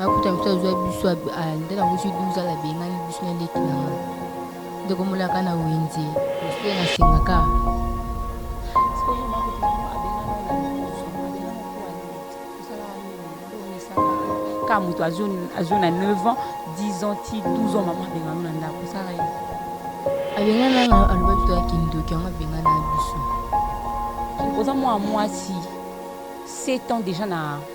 akuta biso azwa biso nde nango zwi 12 ala abengani biso na leki na nga ndeko molaka na wenze ose nasengaka ka moto azwi na 9 ans 10 ans ti 12 ans mama abengano na ndako osala ye abengana nga aloba biso ya kindoki yango abengana biso oza mwana mwasi 7 ans déjà na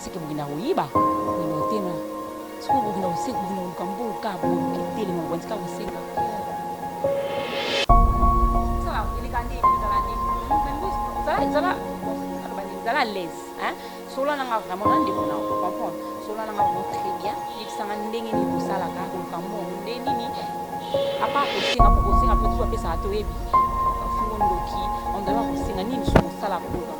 Siki bokenda koyiba na motema sikoyo bokenda koseka bokenda koluka mbongo kaka boke telema bwanzi kaka kosenga zala alaise solola nanga vraiment na ndeko na comprendre solola nanga vraiment très bien yebisanga ndenge nini kosalaka koluka mbongo nde nini apa kosenga po kosenga mpe tusu apesaka toyebi fungo ndoki ondala kosenga nini so kosala koluka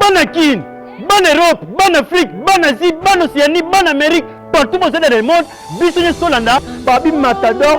bana kin bana europe bana afrique bana asie bana océanie bana amérique partout bozali na le monde biso nyonso tolanda babi matador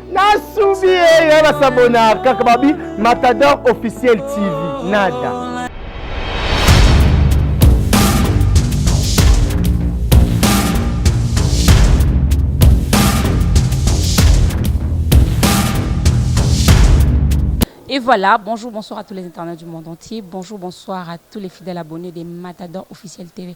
nasubi ye ya basabona kaka babi matador officiel tv nada Et voilà, bonjour, bonsoir à tous les internautes du monde entier. Bonjour, bonsoir à tous les fidèles abonnés des Matadors Officiel TV.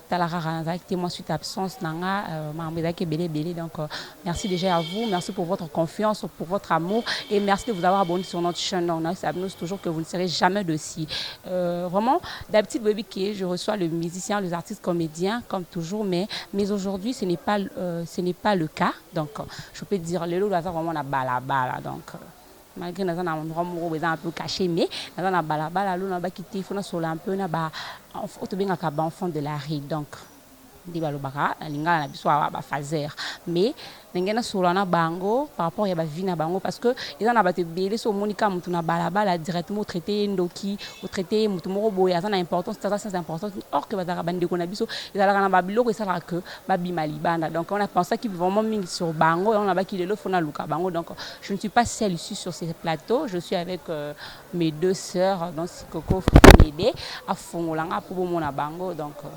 tala kaka nazalaki te moi suite absence na nga euh, makambo ezalaki ebele ebele donc euh, merci déjà à vous merci pour votre confiance pour votre amour et merci de vous avoir abonné sur notre chaîne donc nayebisa abino toujours que vous ne serez jamais de si euh, vraiment d'habitude boyebi que je reçois le musicien les artistes comédiens comme toujours mais mais aujourd'hui ce n'est pas euh, ce n'est pas le cas donc euh, je peux dire lelo oyo aza vraiment na balabala donc euh, malgre naza na endroit moko eza un peu cache mais naza na balabala alo nabaki te fo nasolola un peu na ba oyo tobengaka ba enfant de la rue donc nde balobaka na lingala na biso awa bafazer mais ndenge nasolola na bango par rapport ya bavi na bango parce que eza na bato ebele so omoni kaka motu na balabala directement otraite ye ndoki otraite ye motu moko boye aza na importance aza sans importance or que bazalaka bandeko na biso ezalaka na babiloko esalaka que babima libanda donc on a pensaki vraiment mingi sur bango yango nabaki lelo fo naluka bango donc Je ne suis pas seule ici sur ce plateau, je suis avec euh, mes deux sœurs, donc Sikoko Fumede, à Fongolanga, pour Bomona Bango, donc euh,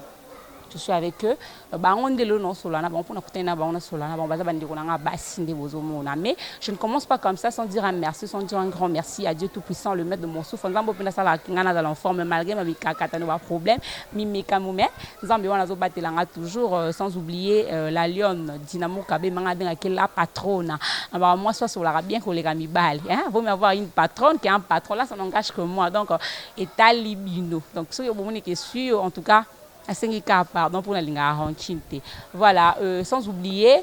je suis avec eux. Euh, bango nde lelo naosolana bango mpona kutani na bango nasolana bango baza bandeko na ngai basi nde bozomona mais je ne commence pas comme ça sans dire un merci sans dire un grand merci à dieu tout puissant le maître de mon souffre nzambe mpe nasalaka ngai nazala en forme malgré mamikakatano baproblème mimekamo mais nzambe wana azobatela nga toujours euh, sans oublier euh, la lionne dynamo kabe manga abengaki la patrona abaka mwasi asolaka bien koleka mibali hein? vaut mieux avoir une patronne qu'un patron là ça n'engage que moi donc euh, etali bino donc soki bomoni ke sur en tout cas asengi kaka pardon mpo nalingaka rancune te voilà euh, sans oublier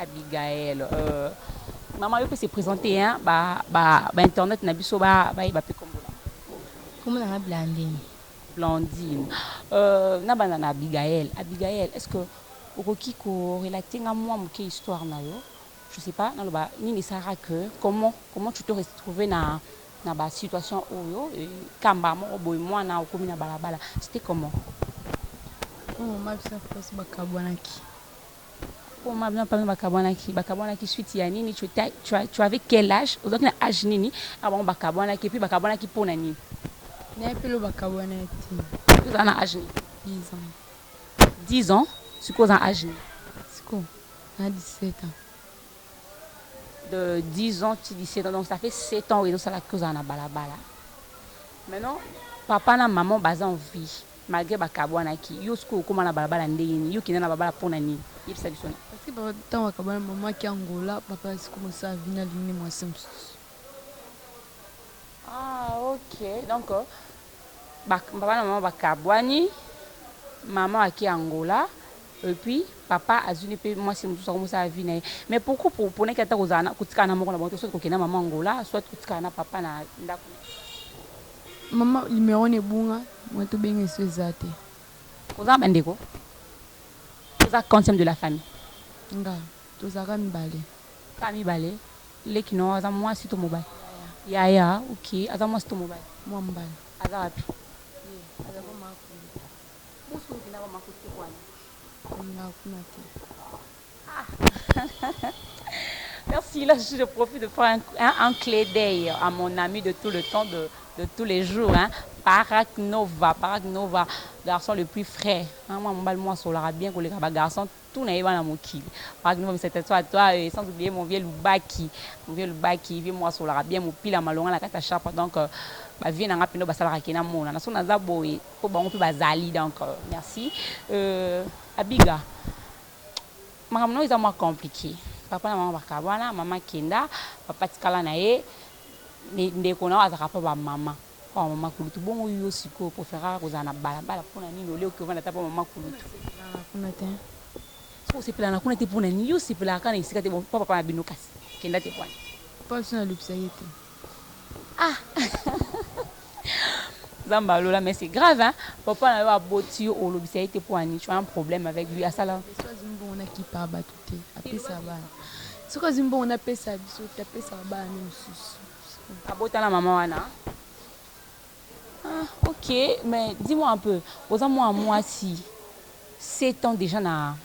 Abigaël euh maman yo pe se presenter hein ba ba ba internet na biso ba ba yeba pe kombo na Kombo na nga Blandine. Blandine. Euh, na banda na Abigaël. Abigaël, est-ce que okoki ko relater nga mwa moke histoire na yo? Je sais pas, naloba nini esalaka que comment comment tu te retrouver na na ba situation oyo e, kamba moko boye mwana okomi na balabala. C'était comment? Oyo mama biso na papa biso bakabwanaki. Poma bino papa bakabwanaki bakabwanaki suite ya nini tu tu avais quel age ozalaki na age nini awa bango bakabwanaki et puis bakabwanaki pona nini na epelo bakabwanaki ozala na age nini 10 ans 10 ans sikoyo oza na age nini sikoyo na 17 ans de 10 ans ti 17 ans donc ça fait 7 ans oyo ezosala ke ozala na balabala maintenant papa na maman baza en vie Malgre ba kabuanaki yo sikoyo okoma na balabala ndenge nini yo kenda na balabala pona nini yebisa biso na. Parce que papa tango ba kabuana maman aki Angola papa asi koma sala vie na lingi muasi mususu. Ah ok donc ba papa na maman ba kabuani maman aki Angola et puis papa azui ne pe muasi mususu akomi sala vie na ye mais pourquoi po ponaki ata kozala na kotikala na moko na bango te soit kokenda maman Angola soit kotikala na papa na ndaku. Maman numero wana ebunga mutu obenga esi eza te. Oza na ba ndeko? Oza quantième de la famille? Nga tozalaka mibale. Kaka mibale? Leki na yo aza muasi to mobali? Yaya. Yaya ok aza muasi to mobali? Mua mobali. Aza wapi? Ye aza pa makundi. Bus oyo okendaka makuti te kuana? Nakendaka kuna te. Merci là je profite de faire un, un, un clé d'œil à mon ami de tout le temps de de tous les jours hein Parak Nova Parak Nova garçon le plus frais hein moi mobali moi solaka bien koleka ba garçon tout na yeba na mokili Parak Nova c'est toi toi et sans oublier mon vieux Lubaki mon vieux Lubaki vieux moi solaka bien mopila malonga na kata chapa donc euh, ba vieux nanga pino basalaka kena mona na so naza boye po bango pe bazali donc euh, merci euh, Abiga Makambo na yo eza mwa complique. Papa na mama bakabwana, mama akenda, papa atikala na ye. Mais ndeko na yo azalaka mpo ba mama. Mpo ba mama kulutu. Bongo yo sikoyo o preferaka kozala na balabala mpo na nini au lieu oke ovanda ata mpo ba mama kulutu? Nasepelaka kuna te. Soki osepelaka na kuna te mpo na nini? Yo osepelaka kaka na esika te, bon mpo papa na bino kasi? Kenda te pwani. Papa na biso nalobisa ye te. Ah Nzambe ya lola mais c'est grave hein papa na yo aboti yo olobisa ye te po ani tu as un problème avec lui asala soki azwi mbongo nakipa bato te apesa bana soki azwi mbongo napesa biso te apesaka bana nde mosusu abota na mama wana ah, ok mais dis moi un peu oza mwana mwasi 7 ans déjà na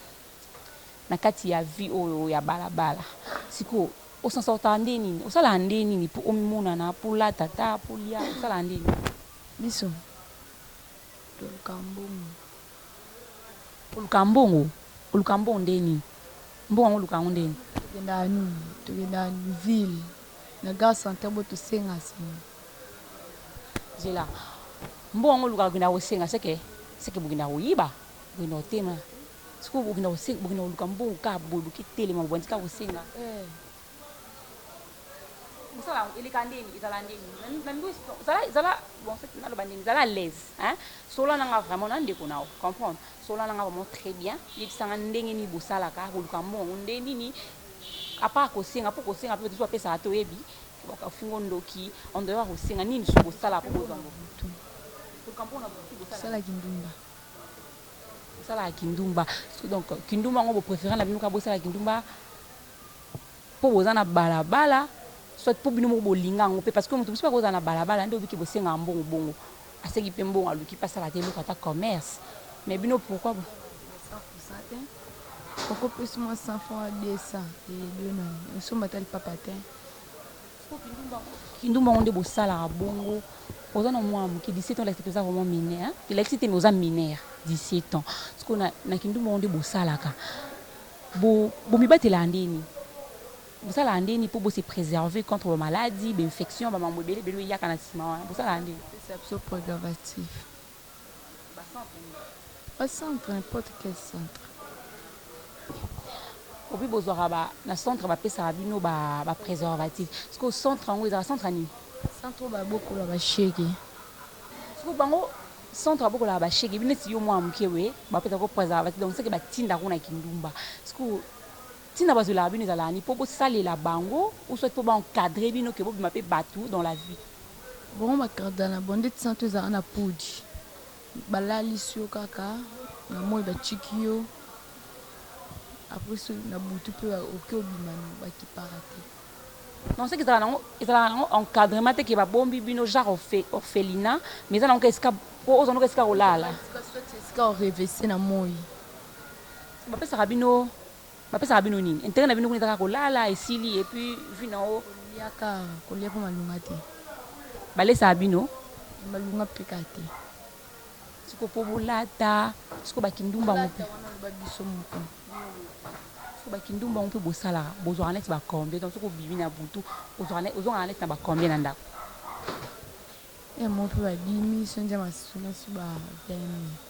na kati ya vie oyo ya bala bala siko osansortaka nde nini osalaka nde nini po omimonana po olata ata po olia osalaka nde nini. Biso tolukaka mbongo. Olukaka mbongo? Olukaka mbongo ndenge nini? Mbongo yango olukaka yango ndenge nini? Tokendaka nini? Tokendaka ville na gare centrale bo tosenga senga. Zela mbongo yango olukaka okendaka kosenga seke seke bokendaka koyiba? Bokendaka kotema. Sikoyo bokenda kosenga bokenda koluka mbongo kaka boye boke telema boye bandika kosenga eh. Mosala yango eleka ndeni ezala ndeni na mbi zala zala bon en fait naloba ndeni zala à l'aise hein sola nanga vraiment na ndeko nao comprendre sola nanga vraiment très bien yebisanga ndenge nini bosalaka boluka mbongo nde nini apart kosenga mpo kosenga mpe biso bapesaka te oyebi bakafingo ndoki en dehors ya kosenga nini so bosala mpo bozwa mbongo koluka mbongo na butu bosala salaki ndumba Bosalaka kindumba so donc kindumba yango bo prefere na bino kaka bosala kindumba mpo boza na balabala soit mpo bino moko bolinga yango mpe parce que moto mosusu mpe akozala na balabala nde obiki bosengaka mbongo bongo aseki mpe mbongo aluki mpe asala te eloko ata commerce mais bino pourquoi bo Okopesi mwa 100 francs 200 eye bino nani osomba ata lipapa te. Kindumba yango nde bosalaka bongo oza na mwana moke 17 ans olakisi toza vraiment mineur elakisi te mais oza mineur 17 ans sikoyo na, na kindumba yango nde bosalaka bo bomibatelaka ndeni bosalaka ndeni mpo bose préserver contre bamaladi bainfection bamambo ebele ebele eyaka na nsima wana bosalaka ndeni biso préservatif Ba centre n'importe quel centre epuis bozwaka ba na centre ba pesaka bino ba ba preservatif sikoyo centre yango ezalaka centre ya nini? Centre oyo ba bokola ba shege. Sikoyo bango centre ba bokolaka ba shege neti yo mwana muke boye ba pesaka yo preservatif donc ce que ba tindaka yo na kindumba sikoyo Tina bazwelaka bino ezalaka nini? Po bosalela bango ou soit po ba encadrer bino que bobima pe batu dans la vie? Bongo ba cardana bon ndeti santu ezalaka na podi balalisi yo kaka na moyi batiki yo après soki na butu pe oke obima no bakipaka te. Non soki ezalaka nango ezalaka nango encadrement te que ba bombi bino genre orphelinat mais eza nango kaka esika po ozwa nango esika ya kolala. Esika o revese na moyi. Bapesaka bino bapesaka bino nini interet na bino kuna eza kaka kolala esili et puis vie na yo koliaka kolia mpe malunga te balesaka bino malunga mpe kaka te siko mpo bolata siko bakindumba yango mpe biso moko siko bakindumba yango mpe bosalaka bozwaka neti bacombien donc soki obimi na butu ozongaka neti na bacombien na ndako yango mpe babimi sonja masunasi ba 20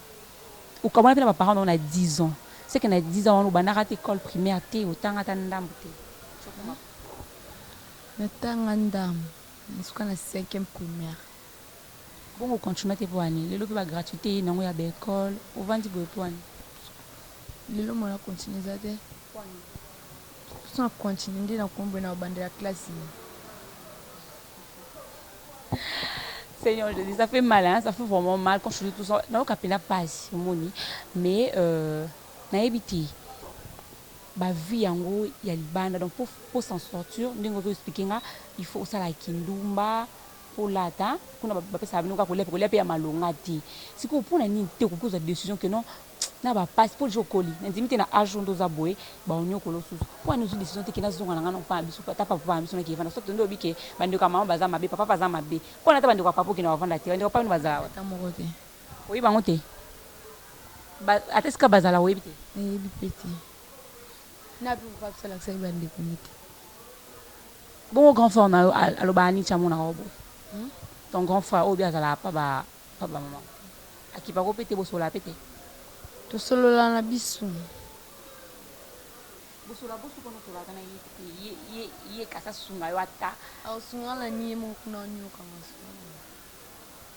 Okabwana pe na ba parents na yo na dix ans, ce que na dix ans wana obandaka ata ecole primaire te, otanga ata ndambu te, si okoma papa. Natanga ndambu, nasuka na cinquième primaire. Bongo o continua te pona nini? Lelo pe ba gratuites eyeyi na yango ya ba ecoles, ovandi boye pona nini? Lelo moyen ya continuer eza te. Pona nini? Sans continue nde na kombo na obandela classe nini? Seigneur Jésus, ça fait mal hein, ça fait vraiment mal quand je dis tout ça. Nayoka pena pasi omoni mais euh, nayebi te ba vie yango ya libanda donc pour, pour s'en sortir ndenge ozo expliquer nga il faut osala kindumba Kolata kuna ba pesaka bino kaka kolia pe kolia pe ya malonga te sikoyo pona nini te okoki kozwa decision que non na ba pasi po dejà okoli na ndimi te na age oyo nde oza boye ba oniokolo osusu pona nini ozwi decision te que na zonga na nga na papa na biso ata pa papa na biso na ke vanda soit nde olobi ke ba ndeko ya mama baza mabe papa pe aza mabe pona ata ba ndeko ya papa okenda ko vanda te ba ndeko ya papa bino bazala wapi ata moko te oyebi bango te ba ata esika bazala oyebi te na yebi pe te N'a pe papa biso alakisaki ba ndeko ne te bongo grand frère na yo alobaka nini ti amonaka yo boye hum ton grand frère oyo pe azalaka pa ba pa ba maman akipaka yo pe te bosolola pe te tosolola na biso bosolola bosu pona osolola ata na ye te ye ye ye kasi asunga yo ata akosunga na ni ye moko kuna onioka masolo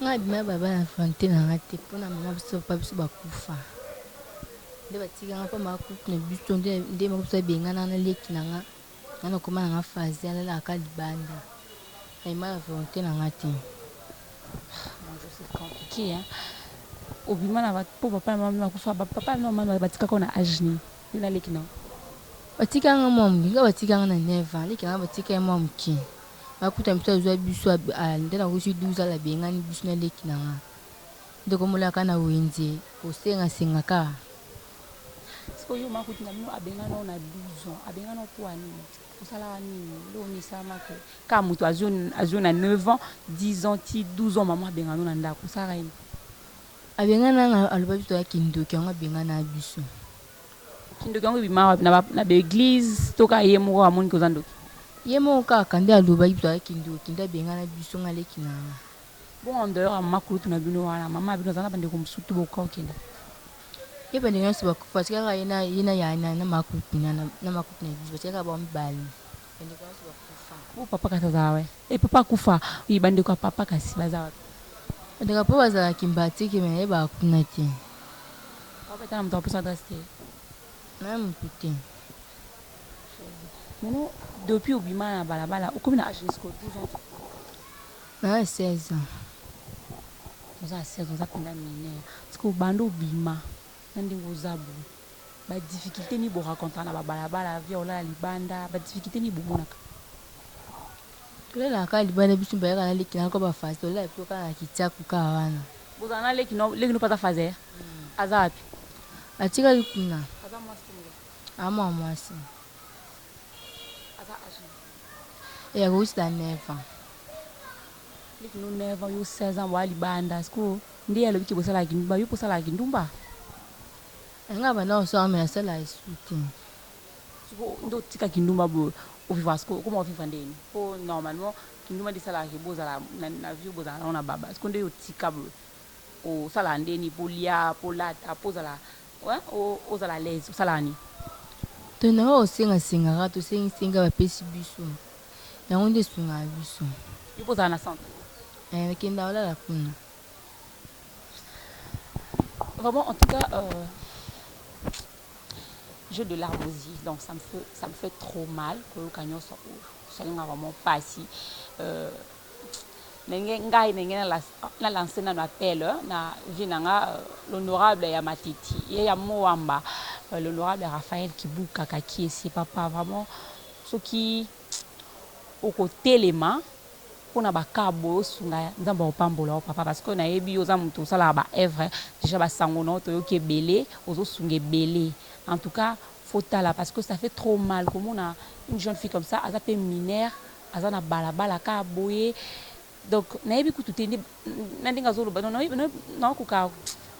Nga bima baba na volonte na nga te pona mama biso papa biso bakufa nde batika nga pamba couple na biso nde nde mama biso abengana nga na leki na nga nga na koma na nga fazi alalaka ka libanda nga bima na volonte na nga te Mon Dieu, c'est compliqué, hein. obima na ba- po papa na mama bino bakufa Ba- papa na mama batikaka yo na age nini yo na leki na yo batika nga mwa moke nga batika nga na 9 ans leki na nga batika ye mwa moke akuta biso azua biso nde nakosi 12 ans abengani biso na leki na nga ndeko mola ka na wenze kosenga senga ka siko yo makuti na bino abengana yo na 12 ans abengana yo mpo anini osalaka nini leo misama ke ka moto azwi na 9 ans 10 ans ti 12 ans mama abengana yo na ndako osalaka nini abengana nga aloba biso toya kindoki yango abengana biso Kindoki yango ebima wapi na ba na ba eglise to ka ye moko amoni koza ndoki. Ye moko kaka nde alobaki bitu aza kindoki nde abengana biso nga leki nanga. Bongo en dehors ya mama kulutu na bino wana mama na bino aza na bande ko musutu bokoka kokende? Ye bande nionso bakufa batika kaka ye na ye na ya na na ma kulutu na na ma kulutu na biso batika kaka bango mibale. Bandeko ya yesu bakufa. Oyo papa kasi aza wapi? Eh papa akufa. Oui, bandeko ya papa kasi baza wapi? Bandeko ya papa bazala kimbatiki mais yeba kuna te. Papa etana moto apesa adresse te. Naye motu te. Maintenant, depuis obima na balabala, okomi na age jusqu'au 12 ans. Naye 16 ans. Oza 16 ans, oza penda mineur. Parce que obanda obima na ndenge oza boye. ba difficulte nini bo rencontraka na ba balabala vie ya kolala libanda ba difficulte nini bomonaka? Tolalaka kaka libanda biso mibale kaka na leki na ngai ba faze tolalaka biso kaka na kitiaku kaka wana. Bozala na leki no leki no pata faze ya aza wapi? Atikali kuna. Aza mwasi to mobali? Aza mwana mwasi. Aza age nini? Eh akokisi na 9 ans. Leki no 9 ans yo 16 ans boya libanda sikoyo nde ye alobi ke bosalaka kindumba yo mpe osalaka kindumba? Nga ba nao soa mais asala esu te. Siko nde otika kindumba boye ovivra siko okoma ovivra ndeni po normalement kindumba nde esalaka ke bozala na vie bozala nango na baba siko nde otika boye osalaka ndeni po olia po olata po ozala ozala alaise osalaka nini. To na oyo osenga senga kaka to sengi sengi kaka ba pesi biso yango nde esungaka biso. Yo pe ozala na centre? Eeh kenda olala kuna. Vraiment, en tout cas, euh, j'ai de larmes aux yeux, donc ça me fait, ça me fait trop mal. Koyoka nyonso oyo, esalinga vraiment pasi. Euh, ndenge ngai ndenge na lance nano appel na vie na nga euh, l'honorable ya matiti ye ya moamba euh, l'honorable raphaël kibuka kakiesi papa vraiment soki okotelema pona ba cas boye osunga ya nzambe akopambola yo papa parce que nayebi yo oza mutu osalaka ba œuvre dejà ba sango na yo toyoki ebele ozo sunga ebele en tout cas faut tala parce que ça fait trop mal komona une jeune fille comme ça aza pe mineure aza na bala bala ka boye donc nayebi kutu te nde na ndenge azo loba na koka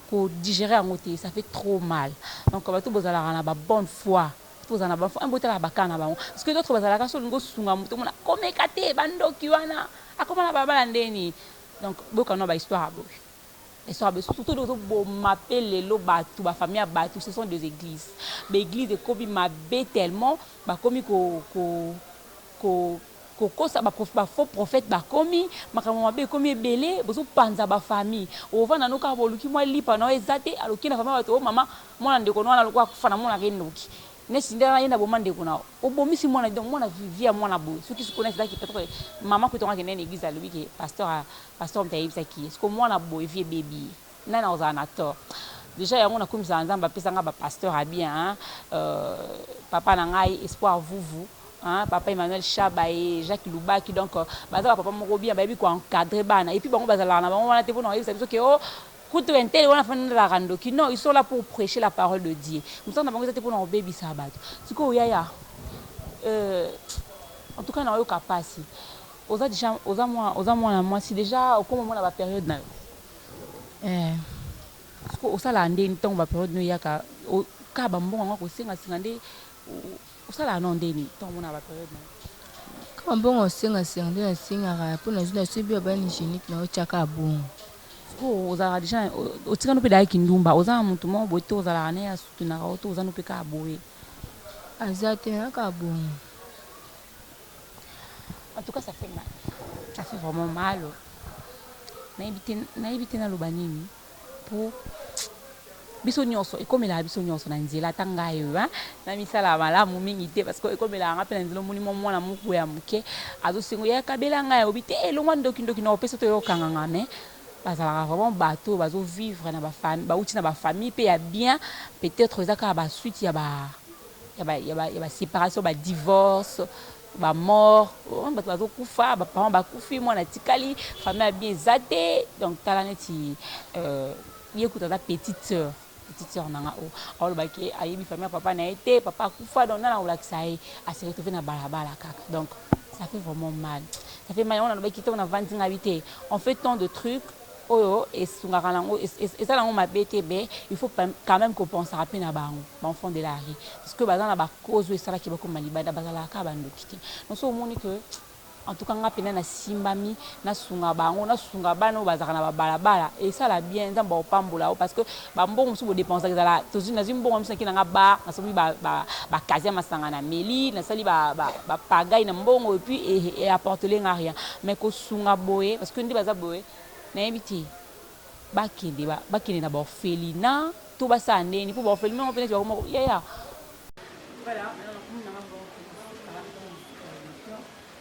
ko digérer yango te ça fait trop mal donc bato bozalaka na ba bonne foi Toza na ba fan bo tala ba cas na bango parce que d'autres bazalaka soki olingi osunga moto omona ko meka te ba ndoki wana akoma na balabala nde nini donc bo yoka nao ba histoire ya boye ba histoire ya boye surtout ndenge ozo boma pe lelo batu ba famille ya batu ce sont des eglises ba eglises ekomi mabe tellement bakomi ko ko ko Kokosa ba faux prophète bakomi makambo mabe ekomi ebele bozo panza ba famille ovanda no kaka boluki mwa lipa nao eza te alors oke na famille ya batu oh mama mwana ndeko no wana lokola akufa na monaka ye ndoki neti nde wana yende aboma ndeko nao obomisi mwana donc mwana vie ya mwana boye soki sikoyo neti ezalaki peut etre mama kutu yango akenda na eglise alobi ke pasteur pasteur mutu ayebisaki ye sikoyo mwana boye vie ebebi ye. Nani akozala na tort? Dejà yango na kumisaka nzambe apesa nga ba pasteur ya bien hein euh, papa na ngai espoir vuvu hein papa Emmanuel Shaba et Jacques Lubaki donc euh, baza ba papa moko bien bayebi ko encadrer bana et puis bango bazalaka na bango wana te pona koyebisa biso ke oh kutu entele wana fana nazalaka ndoki non ils sont là pour prêcher la parole de Dieu mosala na bango eza te pona kobebisa bato sikoyo yaya euh, en tout cas nayoka pasi oza deja oza mwana oza mwana mwasi deja okoma mwana ba periode na yo Eeh sikoyo osalaka ndenge nini tango ba periode nini eyaka kaka ba mbongo yango ya kosenga senga nde osalaka nao ndenge nini tango omonaka ba periode na yo? Kaka mbongo ya kosenga senga nde nasengaka mpo nazwi na subi ya bana hygienique na otya kaka bongo. Sikoyo ozalaka deja otika no mpe deja kindumba oza na moto moko boye to ozalaka na ye a soutenaka yo to oza no mpe kaka boye? Aza te naza kaka bongo. En tout cas ça fait mal. Ça fait vraiment mal. Nayebi te naloba nini po biso nyonso ekomelaka biso nyonso na nzela ata ngai oyo na misala ya malamu mingi te parce que ekomelaka ngai mpe na nzela omoni mwa mwana moko ya moke azosengo ya kabela ngai aobi te elongwa eh, ndokindoki na opesa to yokanga ngai mais bazalaka vraiment bato oyo bazovivre na bafamille bauti na bafamille mpe ya bien peut-être eza kaka basuite ya ba ya ba separation ba divorce ba mort omoni bato bazokufa ba parents bakufi mwana atikali famille ya bien eza te donc tala neti euh, ye kutu aza petite sœur petite sœur na nga oyo oh, aolobaki ayebi famille ya papa na ye te papa akufa donc nana kolakisa ye ase retrouve na balabala kaka donc ça fait vraiment mal ça fait mal yango nalobaki ntango navandi ngai te on fait tant de trucs oyo esungaka na ngo eza na ngo mabe te mais il faut quand même ko pensaka pe na bango ba enfants de la rue parce que baza na ba cause oyo esalaki bakoma libanda bazalaka kaka ba ndoki te donc soki omoni que en tout cas nga pena na simbami na sunga bango na sunga bana oyo bazalaka na ba balabala esala bien nzambe opambola yo parce que ba mbongo mosusu bodepensaka ezala tozwi nazwi mbongo ya miso nake na nga ba nasomi bakasi ya masanga na meli nasali bapagai na mbongo epuis eapportele e, e nga rien mais kosunga boye parce que nde baza boye nayebi te bakende bakende na baorphelina to basala ndeni mpo baorphelina yango mpe neti bakoma yaya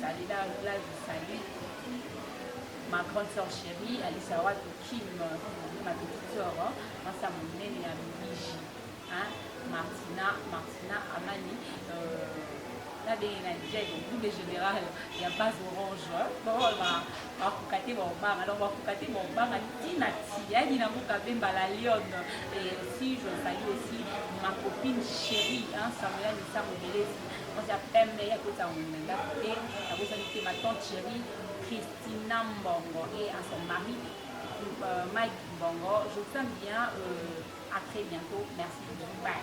Salela Glad Salut, ma grande sœur chérie, Alisa Wato Kim, ma petite sœur, ma sa monene ya Luigi, hein, Martina, Martina Amani, euh, la belle na Jack, double général, il y a base orange, bon, bah, bah, kukate bon bang, alors bah, kukate bon bang, tina ti, ya dina muka bemba la lionne, et aussi, je salue aussi ma copine chérie, hein, Samuel Nissa Mobilesi, Oza pembe ya kota ngunda ndako te, abosani te ma tante chérie Christina Mbongo et à son mari euh, Mike Mbongo. Je vous aime bien, euh, à très bientôt. Merci, bye.